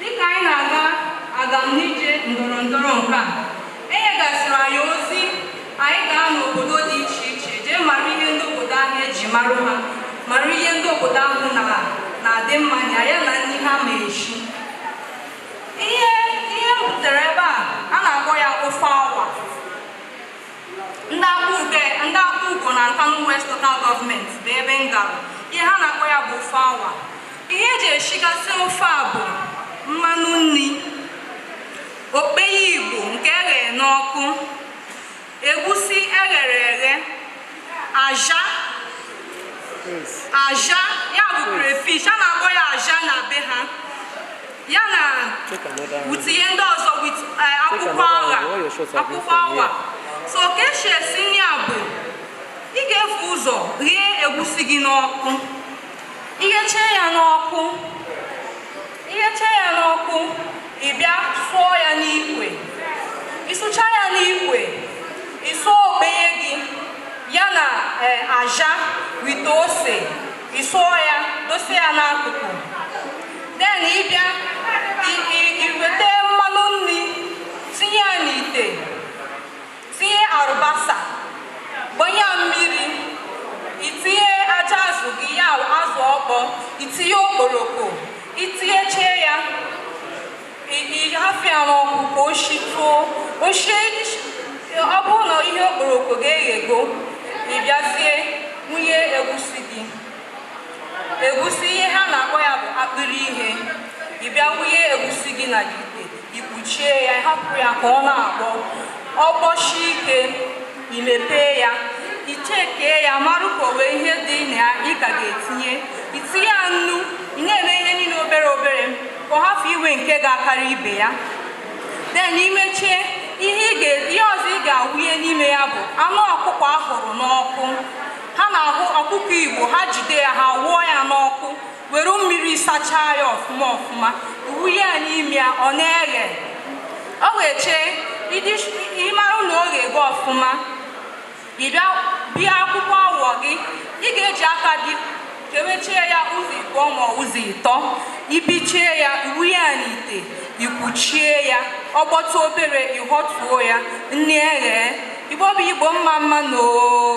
Dịka anyị na-aga agamnije ndọrọ ndọrọ nke a, e nyegasịrị anyị ozi anyị gaa n'obodo dị iche iche jee mara ihe ndị obodo ahụ e ji mara ha mara ihe ndị obodo ahụ na na-adị mma na ya na nri ha ma eshi ihe ihe m butere ebe a a na-akpọ ya ofe awa ndị akpụ ude ndị Akpugo na Nkanu West local government bụ ebe m gara ihe ha na-akpọ ya bụ ofe awa ihe e ji eshigasị ofe a bụ mmanụ nri okpeye igbo nke e ghere n'ọkụ egusi e ghere eghe aja aja ya bụ crayfish a na-akpọ ya aja na be ha ya na utinye ndị ọzọ with eh, akwụkwọ agha akwụkwọ awa so ka e si esi nri a bụ ị ga-evu ụzọ ghee egusi gị n'ọkụ ighechee ya n'ọkụ ighechee ya n'ọkụ ị bịa sụọ ya n'ikwe ịsụcha ya n'ikwe ịsụọ okpeye gị ya na eh, aja with ose ịsụọ ya dosie ya n'akụkụ then ịbịa i- i- iweta mmanụ nri tinye ya n'ite Tinye alịbasa, gbanye mmiri, itinye aja azụ gị ya azụ ọkpọ, itinye okporoko, itinyeche ya, ị hafụ ya n'ọkụ ka o shituo. O shie, ọ bụrụ na ihe okporoko ga-eghego, ị bịazie wụnye egwusi gị. Egwusi ihe ha na-akpọ ya bụ akpịrị ihe. Ị bịa wụnye egwusi gị n'ite. ikpuchie ya ịhapụ ya ka ọ na-agbọ ọ gbọshie ike imepee ya ichekee ya mara ka o wee ihe dị na ya ị ka ga-etinye itinye ya nnu ị na-eme ihe niile obere obere ka ọ hafụ iwe nke ga-akarị ibe ya then imechee ihe ị ga- ihe ọzọ ị ga-awụnye n'ime ya bụ anụ ọkụkọ a hụrụ n'ọkụ ha na-ahụ ọkụkọ igbo ha jide ya ha hụọ ya n'ọkụ were mmiri sachaa ya ọfụma ọfụma wụnye ya n'ime ya ọ na-eghe o ghechee ịmara na ọ ga-eghe ọfụma ịbịa bịa akwụkwọ awa gị ị ga-eji aka gị kewechie ya ụzọ ịbụọ ma ụzọ ịtọ ibichie ya ịwụnye ya n'ite ikwuchie ya ọ gbọtụ obere ịhọtuo ya nri eghee Igbo bụ Igbo mma mma nụ oo